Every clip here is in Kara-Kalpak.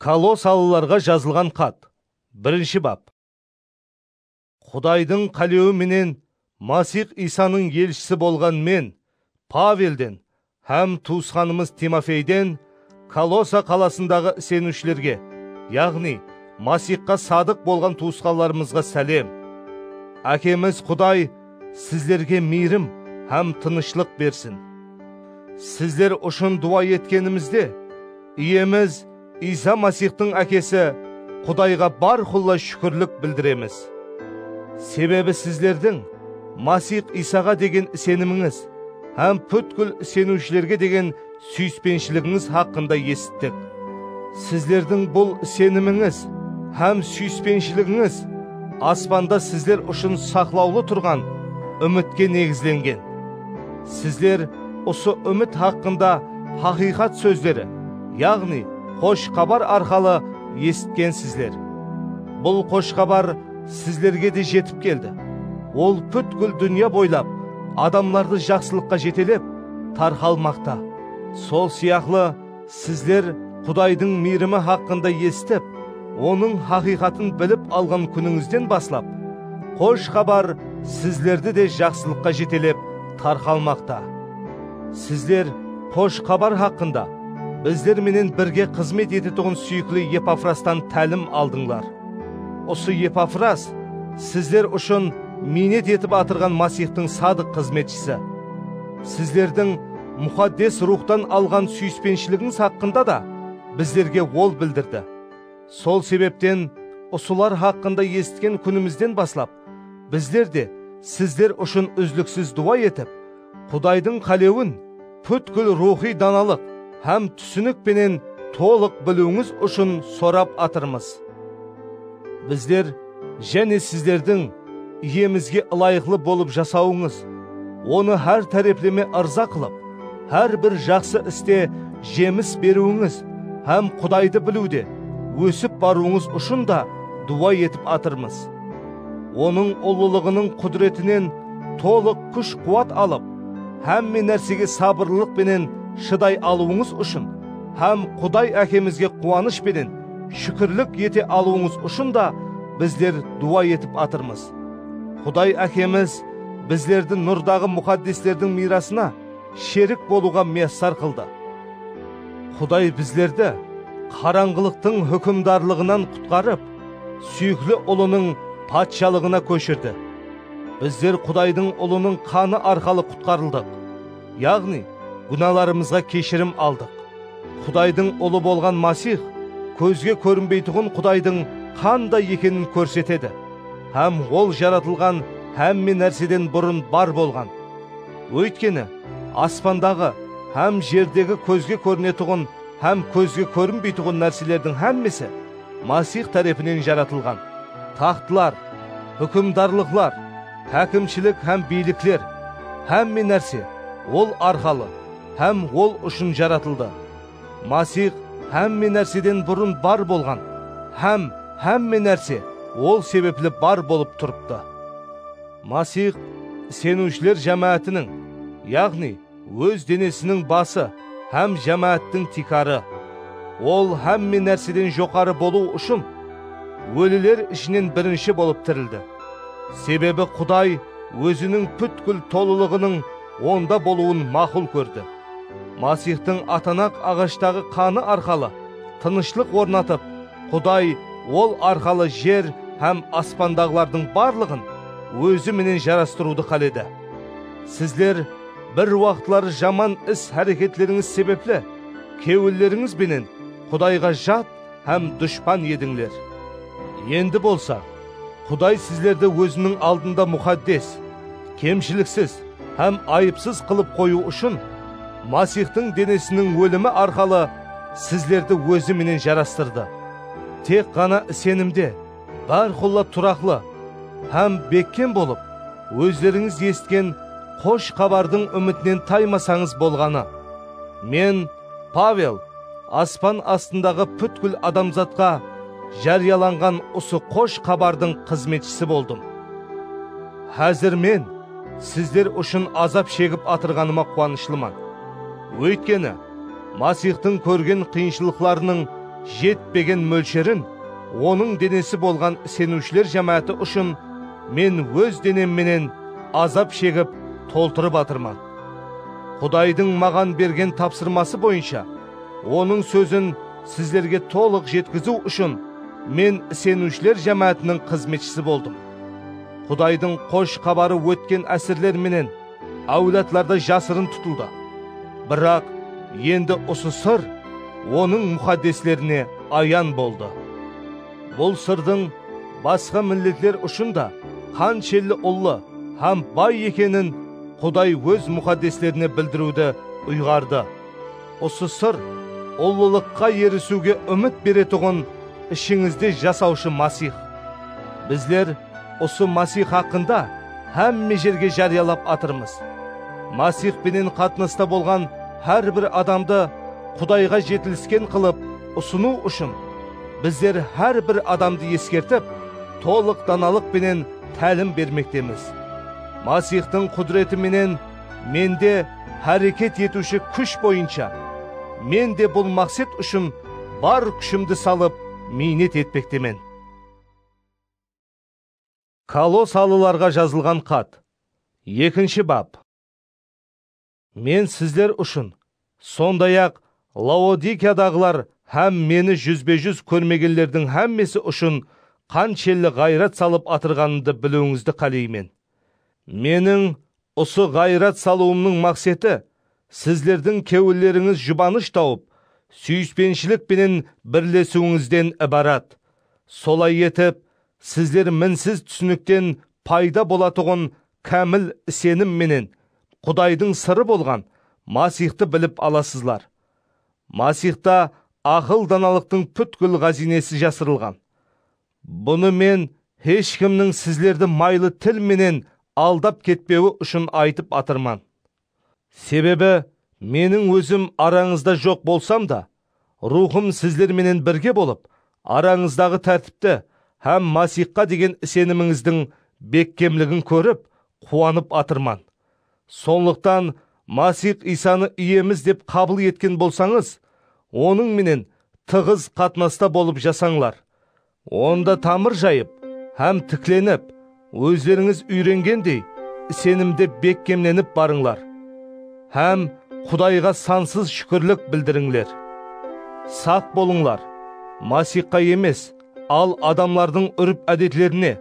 Kolosalılarǵa jazılǵan xat, birinshi bap. Qudaydıń qálewi menen Masix Iysanıń elshisi bolǵan men, Pavelden hám tuwısqanımız Timofeyden Kolosa qalasındaǵı iseniwshilerge, yaǵnıy, Masixqa sadıq bolǵan tuwısqanlarımızǵa sálem. Ákemiz Quday Sizlerge miyrim hám tınıshlıq bersin. Sizler ushın duwa etkenimizde, Iyemiz Iysa Masixtıń Ákesi Qudayǵa bárqulla shúkirlik bildiremiz. Sebebi sizlerdiń Masix Iysaǵa degen isenimińiz hám pútkil iseniwshilerge degen Súyispenshiliginiz haqqında esittik. Sizlerdiń bul isenimińiz hám súyispenshiliginiz aspanda sizler ushın saqlawlı turǵan úmitke negizlengen. Sizler usı úmit haqqında haqıyqat sózleri, yaǵnıy Xosh Xabar arqalı esitkensizler. Bul Xosh Xabar sizlerge de jetip keldi. Ol pútkil dúnya boylap adamlardı jaqsılıqqa jetelep, tarqalmaqta. Sol sıyaqlı, sizler Qudaydıń miyrimi haqqında esitip, Onıń haqıyqatın bilip alǵan kúnińizden baslap, Xosh Xabar sizlerdi de jaqsılıqqa jetelep tarqalmaqta. Sizler Xosh Xabar haqqında bizler menen birge xızmet etetuǵın súyikli Epafrastan tálim aldıńlar. Usı Epafras sizler ushın miynet etip atırǵan Masixtıń sadıq xızmetshisi. Sizlerdiń Muxaddes Ruwxtan alǵan súyispenshiligińiz haqqında da bizlerge ol bildirdi. Sol sebepten usılar haqqında esitken kúnimizden baslap, Bizler de sizler ushın úzliksiz duwa etip, Qudaydıń qálewin pútkil ruwxıy danalıq hám túsinik penen tolıq biliwińiz ushın sorap atırmız. Bizler jáne sizlerdiń Iyemizge ılayıqlı bolıp jasawıńız, Onı hár tárepleme ırza qılıp, hár bir jaqsı iste jemis beriwińiz hám Qudaydı biliwde ósip barıwıńız ushın da duwa etip atırmız. Onıń ullılıǵınıń qúdiretinen tolıq kúsh-quwat alıp, hámme nársege sabırlılıq penen shıday alıwıńız ushın hám Quday Ákemizge quwanısh penen shúkirlik ete alıwıńız ushın da bizler duwa etip atırmız. Quday Ákemiz bizlerdi nurdaǵı muxaddeslerdiń miyrasına sherik bolıwǵa miyassar qıldı. Quday bizlerdi qarańǵılıqtıń húkimdarlıǵınan qutqarıp, Súyikli Ulınıń patshalıǵına kóshirdi. Bizler Qudaydıń Ulınıń qanı arqalı qutqarıldıq, yaǵnıy, gúnalarımızǵa keshirim aldıq. Qudaydıń Ulı bolǵan Masix kózge kórinbeytuǵın Qudaydıń qanday ekenin kórsetedi hám Ol jaratılǵan hámme nárseden burın bar bolǵan. Óytkeni, aspandaǵı hám jerdegi kózge kórinetuǵın hám kózge kórinbeytuǵın nárselerdiń hámmesi, Masix tárepinen jaratılǵan taxtlar, húkimdarlıqlar, hákimshilik hám biylikler, hámme nárse Ol arqalı hám Ol ushın jaratıldı. Masix hámme nárseden burın bar bolǵan hám hámme nárse Ol sebepli bar bolıp turıptı. Masix iseniwshiler jámáátiniń, yaǵnıy, Óz denesiniń bası hám jámááttiń tiykarı. Ol hámme nárseden joqarı bolıw ushın óliler ishinen birinshi bolıp tirildi. Sebebi Quday Óziniń pútkil tolılıǵınıń onda bolıwın maqul kórdi. Masixtıń atanaq aǵashtagı qanı arqalı tınıshlıq ornatıp, Quday Ol arqalı jer hám aspandaǵılardıń barlıǵın Ózi menen jarastırıwdı qáledi. Sizler bir waqıtları jaman is-háreketlerińiz sebepli kewillerińiz benen Qudayǵa jat hám dushpan edińler. Endi bolsa, Quday sizlerdi Óziniń aldında muxaddes, kemshiliksiz hám ayıpsız qılıp qoyıw ushın, Masixtıń denesiniń ólimi arqalı sizlerdi Ózi menen jarastırdı. Tek ǵana isenimde, Bárqulla turaqlı hám bekkem bolıp, ózlerińiz esitken Xosh Xabardıń úmitinen taymasańız bolǵanı. Men, Pavel, aspan astındaǵı pútkil adamzatqa járiyalanǵan usı Xosh Xabardıń xızmetshisi boldım. Házir men sizler ushın azap shegip atırǵanıma quwanıshlıman. Óytkeni, Masixtıń kórgen qıyınshılıqlarınıń jetpegen mólsherin Onıń denesi bolǵan iseniwshiler jámááti ushın men óz denem menen azap shegip toltırıp atırman. Qudaydıń maǵan bergen tapsırması boyınsha, Onıń sózin sizlerge tolıq jetkiziw ushın men iseniwshiler jámáátiniń xızmetshisi boldım. Qudaydıń Xosh Xabarı ótken ásirler menen áwladlarda jasırın tutıldı. Biraq, endi usı sır Onıń muxaddeslerine ayan boldı. Bul sırdıń basqa milletler ushın da qanshelli ullı hám bay ekenin Quday Óz muxaddeslerine bildiriwdi uyǵardı. Usı sır ullılıqqa erisiwge úmit beretuǵın ishińizde jasawshı Masix. Bizler, Usı Masix haqqında hámme jerge járiyalap atırmız. Masix penen qatnasta bolǵan hár bir adamdı Qudayǵa jetilisken qılıp usınıw ushın, bizler hár bir adamdı eskertip, tolıq danalıq penen tálim bermektemiz. Masixtıń qúdireti menen mende háreket etiwshi kúsh boyınsha, men de bul maqset ushın bar kúshimdi salıp miynet etpektemen. Kolosalılarǵa jazılǵan xat, ekinshi bap. Men sizler ushın, sonday-aq, Laodikiyadaǵılar hám Meni júzbe-júz kórmegenlerdiń hámmesi ushın qanshelli ǵayrat salıp atırǵanımdı biliwińizdi qáleymen. Meniń Usı ǵayrat salıwımnıń maqseti, sizlerdiń kewillerińiz jubanısh tawıp, súyispenshilik penen birlesiwińizden ibarat. Solay etip, sizler minsiz túsinikten payda bolatuǵın kámil isenim menen Qudaydıń sırı bolǵan Masixtı bilip alasızlar. Masixta aqıl-danalıqtıń pútkil ǵáziynesi jasırılǵan. Bunı men hesh kimniń sizlerdi maylı til menen aldap ketpewi ushın aytıp atırman. Sebebi meniń ózim arańızda joq bolsam da, Ruwxım sizler menen birge bolıp, arańızdaǵı tártipti hám Masixqa degen isenimińizdiń bekkemligin kórip, quwanıp atırman. Sonlıqtan Masix Iysanı Iyemiz dep qabıl etken bolsańız, Onıń menen tıǵız qatnasta bolıp jasańlar. Onda tamır jayıp hám tiklenip, ózlerińiz úyrengendey isenimde bekkemlenip barıńlar hám Qudayǵa sansız shúkirlik bildirińler. Saq bolıńlar, Masixqa emes, al adamlardıń úrp-ádetlerine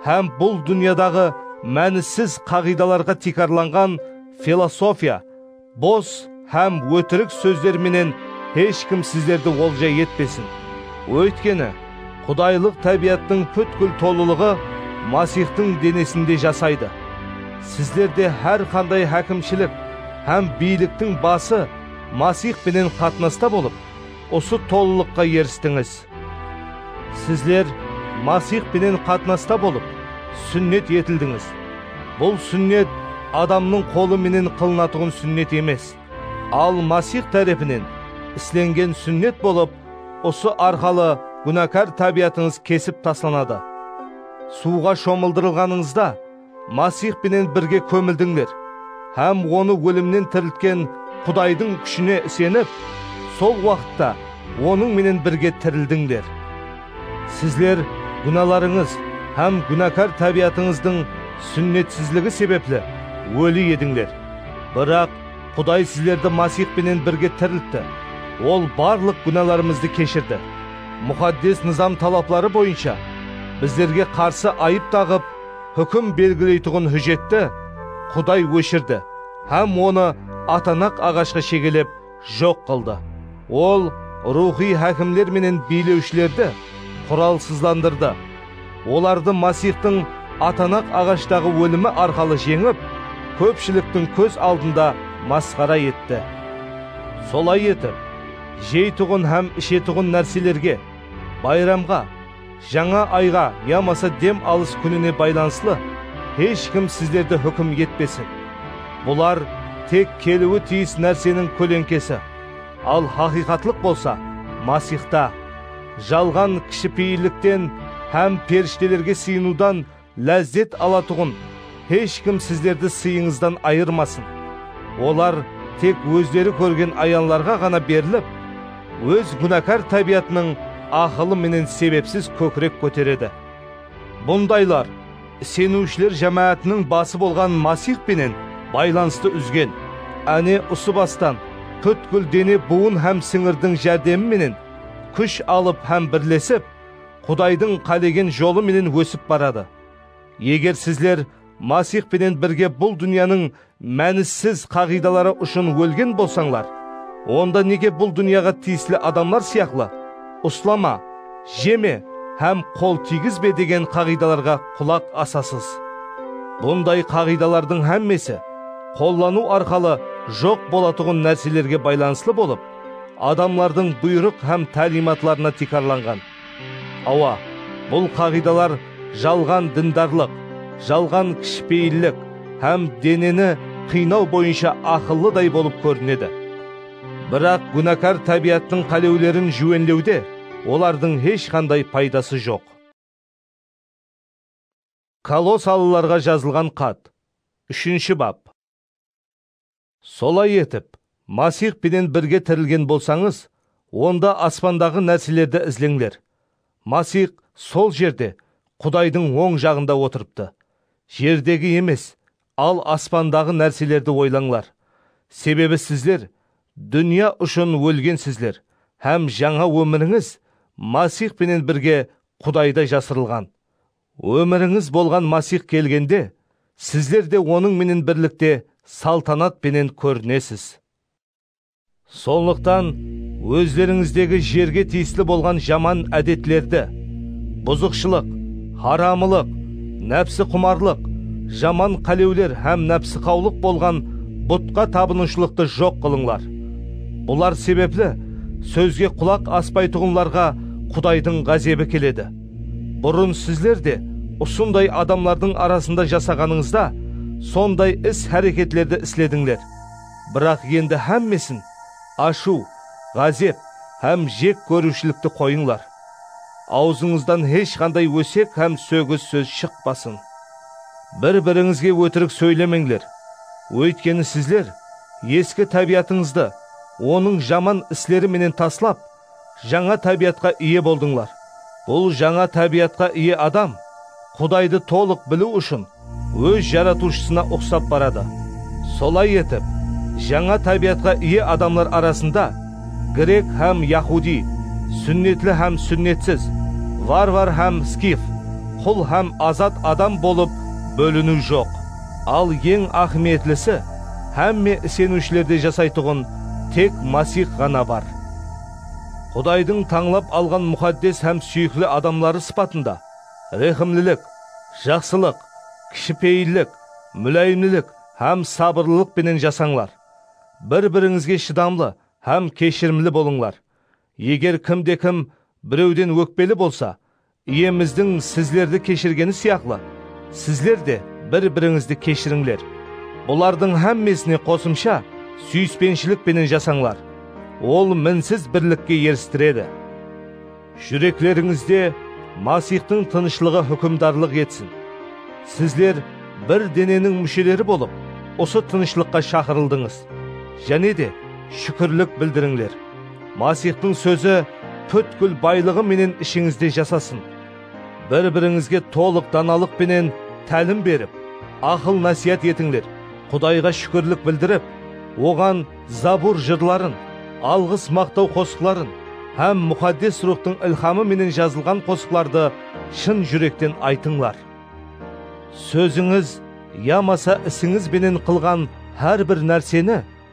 hám bul dúnyadaǵı mánisiz qaǵıydalarǵa tiykarlanǵan filosofiya, bos hám ótirik sózler menen hesh kim sizlerdi olja etpesin. Óytkeni, qudaylıq tábiyattıń pútkil tolılıǵı Masixtıń denesinde jasaydı. Sizlerde hár qanday hákimshilik hám biyliktiń bası Masix penen qatnasta bolıp, usı tolılıqqa eristińiz. Sizler Masix penen qatnasta bolıp, súnnet etildińiz. Bul súnnet adamnıń qolı menen qılınatuǵın súnnet emes, al Masix tárepinen islengen súnnet bolıp, usı arqalı gúnakar tábiyatıńız kesip taslanadı. Suwǵa shomıldırılǵanıńızda, Masix penen birge kómildińler hám Onı ólimnen tiriltken Qudaydıń kúshine isenip, sol waqıtta Onıń menen birge tirildińler. Sizler gúnalarıńız hám gúnakar tábiyatıńızdıń súnnetsizligi sebepli óli edińler, biraq Quday sizlerdi Masix penen birge tiriltti. Ol barlıq gúnalarımızdı keshirdi. Muxaddes Nızam talapları boyınsha bizlerge qarsı ayıp taǵıp, húkim belgileytuǵın hújjetti Quday óshirdi hám onı atanaq aǵashqa shegelep joq qıldı. Ol ruwxıy hákimler menen biylewshilerdi quralsızlandırdı. Olardı Masixtıń atanaq aǵashtaǵı ólimi arqalı jeńip, kópshiliktiń kóz aldında masqara etti. Solay etip, jeytuǵın hám ishetuǵın nárselerge, bayramǵa, Jańa ayǵa yamasa dem alıs kúnine baylanıslı hesh kim sizlerdi húkim etpesin. Bular tek keliwi tiyis nárseniń kóleńkesi, al haqıyqatlıq bolsa Masixta. Jalǵan kishipeyillikten hám perishtelerge sıyınıwdan Lázzet alatuǵın hesh kim sizlerdi sıyıńızdan ayırmasın. Olar tek ózleri kórgen ayanlarǵa ǵana berilip, óz gúnakar tábiyatınıń aqılı menen sebepsiz kókirek kóteredi. Bundaylar iseniwshiler jámáátiniń bası bolǵan Masix penen baylanıstı úzgen. Áne, usı bastan pútkil dene buwın hám sińirdiń járdemi menen kúsh alıp hám birlesip, Qudaydıń qálegen jolı menen ósip baradı. Eger sizler Masix penen birge bul dúnyanıń mánisiz qaǵıydaları ushın ólgen bolsańlar, onda nege bul dúnyaǵa tiyisli adamlar sıyaqlı Uslama, jeme hám qol tiygizbe degen qaǵıydalarǵa qulaq asasız? Bunday qaǵıydalardıń hámmesi qollanıw arqalı joq bolatuǵın nárselerge baylanıslı bolıp, Adamlardıń buyrıq hám táliymatlarına tiykarlanǵan. Awa, bul qaǵıydalar jalǵan dindarlıq, jalǵan kishipeyillik hám deneni qıynaw boyınsha aqıllıday bolıp kórinedi. Biraq gúnakar tábiyattıń qálewlerin júwenlewde olardıń hesh qanday paydası joq. Kolosallılarǵa jazılǵan xat. Úshinshi bap. Solay etip, Masix penen birge tirilgen bolsańız, onda aspandaǵı nárselerdi izleńler. Masix sol jerde, Qudaydıń oń jaǵında otırıptı. Jerdegi emes, al aspandaǵı nárselerdi oylańlar. Sebebi sizler dúnya ushın ólgensizler hám jańa ómirińiz Masix penen birge Qudayda jasırılǵan. Ómirińiz bolǵan Masix kelgende, sizler de Onıń menen birlikte saltanat penen kórinesiz. Sonlıqtan, ózlerińizdegi jerge tiyisli bolǵan jaman ádetlerdi, buzıqshılıq, haramılıq, nápsiqumarlıq, jaman qálewler hám nápsiqawlıq bolǵan butqa tabınıwshılıqtı joq qılıńlar. Bular sebepli, sózge qulaq aspaytuǵınlarǵa Qudaydıń ǵázebi keledi. Burın sizler de usınday adamlardıń arasında jasaǵanıńızda sonday is-háreketlerdi isledińler. Biraq endi hámmesin, ashıw, ǵázep hám jek kóriwshilikti qoyıńlar. Awzıńızdan hesh qanday ósek hám sógis sóz shıqpasın. Bir-birińizge ótirik sóylemeńler, óytkeni sizler eski tábiyatıńızdı onıń jaman isleri menen taslap, Jańa tábiyatqa iye boldıńlar. Bul jańa tábiyatqa iye adam Qudaydı tolıq biliw ushın óz Jaratıwshısına uqsap baradı. Solay etip, jańa tábiyatqa iye adamlar arasında grek hám yahudiy, súnnetli hám súnnetsiz, varvar hám skif, qul hám azat adam bolıp bóliniw joq. Al eń áhmiyetlisi, hámme iseniwshilerde jasaytuǵın tek Masix ǵana bar. Qudaydıń tańlap alǵan muxaddes hám súyikli adamları sıpatında rehimlilik, jaqsılıq, kishipeyillik, múláyimlilik hám sabırlılıq penen jasańlar. Bir-birińizge shıdamlı hám keshirimli bolıńlar. Eger kim de kim birewden ókpeli bolsa, Iyemizdiń sizlerdi keshirgeni sıyaqlı, sizler de bir-birińizdi keshirińler. Bulardıń hámmesine qosımsha, súyispenshilik penen jasańlar. Ol minsiz birlikke eristiredi. Júreklerińizde Masixtıń tınıshlıǵı húkimdarlıq etsin. Sizler bir deneniń músheleri bolıp, usı tınıshlıqqa shaqırıldıńız. Jáne de, shúkirlik bildirińler. Masixtıń sózi pútkil baylıǵı menen ishińizde jasasın. Bir-birińizge tolıq danalıq penen tálim berip, aqıl-násiyat etińler, Qudayǵa shúkirlik bildirip, Oǵan zabur jırların, alǵıs-maqtaw qosıqların hám Muxaddes Ruwxtıń ilhamı menen jazılǵan qosıqlardı shın júrekten aytıńlar. Sózińiz yamasa isińiz benen qılǵan hár bir nárseni,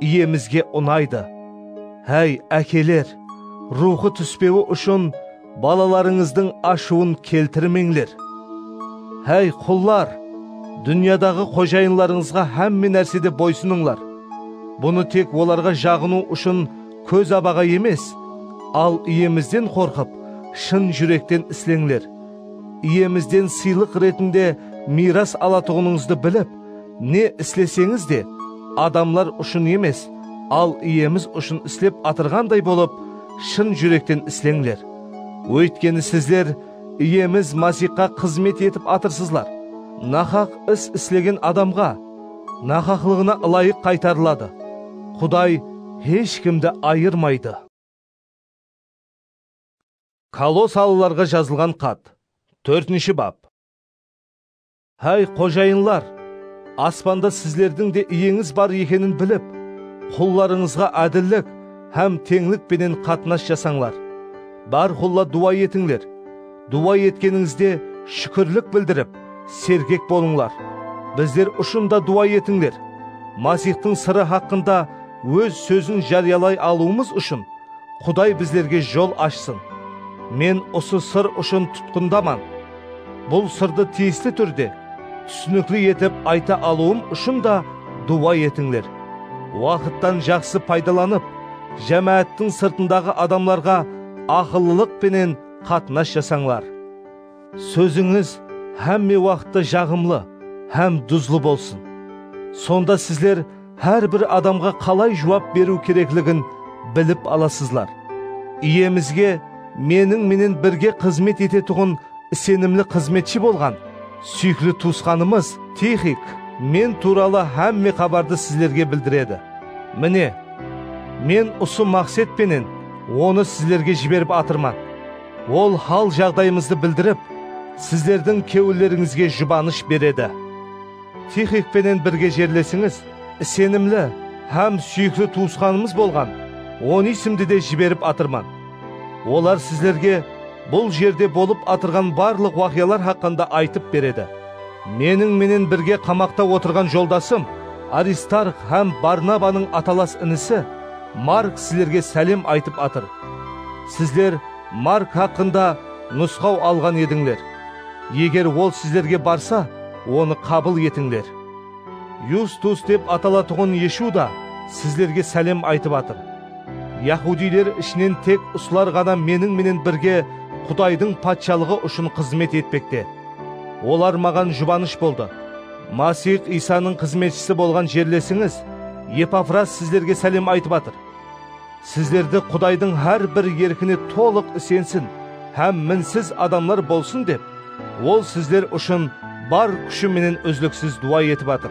Iyemizge unaydı. Háy, ákeler, ruwxı túspewi ushın balalarıńızdıń ashıwın keltirmeńler. Háy, qullar, dúnyadaǵı xojayınlarıńızǵa hámme nársede boysınıńlar. Bunı tek olarǵa jaǵınıw ushın kóz-abaǵa emes, al Iyemizden qorqıp, shın júrekten isleńler. Iyemizden sıylıq retinde miyras alatuǵınıńızdı bilip, Ne isleseńiz de, adamlar ushın emes, al Iyemiz ushın islep atırǵanday bolıp, shın júrekten isleńler. Óytkeni sizler Iyemiz Masixqa xızmet etip atırsızlar. Naqaq is islegen adamǵa naqaqlıǵına ılayıq qaytarıladı. Quday hesh kimdi ayırmaydı. Kolossalılarǵa jazılǵan xat, tórtinshi bap. Háy, xojayınlar! Aspanda sizlerdiń de uyeńiz bar ekenin bilip, qullarıńızǵa ádillik hám teńlik penen qatnas jasańlar. Bárqulla duwa etińler. Duwa etkenińizde shúkirlik bildirip, sergek bolıńlar. Bizler ushın da duwa etińler. Masixtıń sırı haqqında Óz sózin járiyalay alıwımız ushın Quday bizlerge jol ashsın. Men usı sır ushın tutqındaman. Bul sırdı tiyisli túrde, túsinikli etip ayta alıwım ushın da duwa etińler. Waqıttan jaqsı paydalanıp, jámááttiń sırtındaǵı adamlarǵa aqıllılıq penen qatnas jasańlar. Sózińiz hámme waqıtta jaǵımlı hám duzlı bolsın. Sonda sizler Hár bir adamǵa qalay juwap beriw kerekligin bilip alasızlar. Iyemizge meniń menen birge xızmet etetuǵın isenimli xızmetshi bolǵan súyikli tuwısqanımız Tixik men tuwralı hámme xabardı sizlerge bildiredi. Mine, men usı maqset penen onı sizlerge jiberip atırman. Ol hal-jaǵdayımızdı bildirip, sizlerdiń kewillerińizge jubanısh beredi. Tixik penen birge jerlesińiz, isenimli hám súyikli tuwısqanımız bolǵan Onisimdi de jiberip atırman. Olar sizlerge bul jerde bolıp atırǵan barlıq waqıyalar haqqında aytıp beredi. Meniń menen birge qamaqta otırǵan joldasım Aristarx hám Barnabanıń atalas inisi Mark sizlerge sálem aytıp atır. Sizler Mark haqqında nusqaw alǵan edińler. Eger ol sizlerge barsa, Onı qabıl etińler. Yustus dep atalatuǵın Eshu da sizlerge sálem aytıp atır. Yahudiler ishinen tek usılar ǵana meniń menen birge Qudaydıń Patshalıǵı ushın xızmet etpekte. Olar maǵan jubanısh boldı. Masix Iysanıń xızmetshisi bolǵan jerlesińiz Epafras sizlerge sálem aytıp atır. Sizlerdi Qudaydıń hár bir erkine tolıq isensin hám minsiz adamlar bolsın dep, Ol sizler ushın bar kúshi menen úzliksiz duwa etip atır.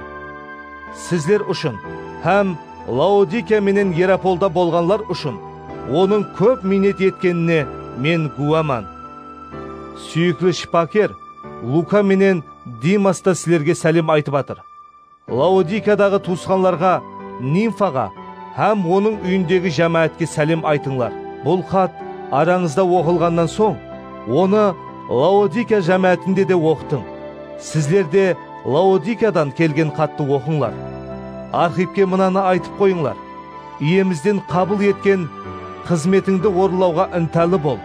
Sizler ushın hám Laodikiya menen Yerapolda bolǵanlar ushın Onıń kóp miynet etkenine men gúwaman. Súyikli shıpaker Luka menen Dimas ta sizlerge sálem aytıp atır. Laodikiyadaǵı tuwısqanlarǵa Nimfaǵa hám onıń úyindegi jámáátke sálem aytıńlar. Bul xat arańızda oqılǵannan soń, onı Laodikiya jámáátinde de oqıtıń. Sizler de Laodikiyadan kelgen xattı oqıńlar. Arxipke mınanı aytıp qoyıńlar, Iyemizden qabıl etken xızmetińdi orınlawǵa ıntalı bol.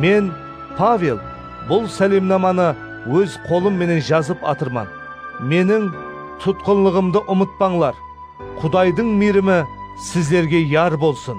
Men, Pavel, bul sálemnamanı óz qolım menen jazıp atırman. Meniń tutqınlıǵımdı umıtpańlar. Qudaydıń miyrimi sizlerge yar bolsın!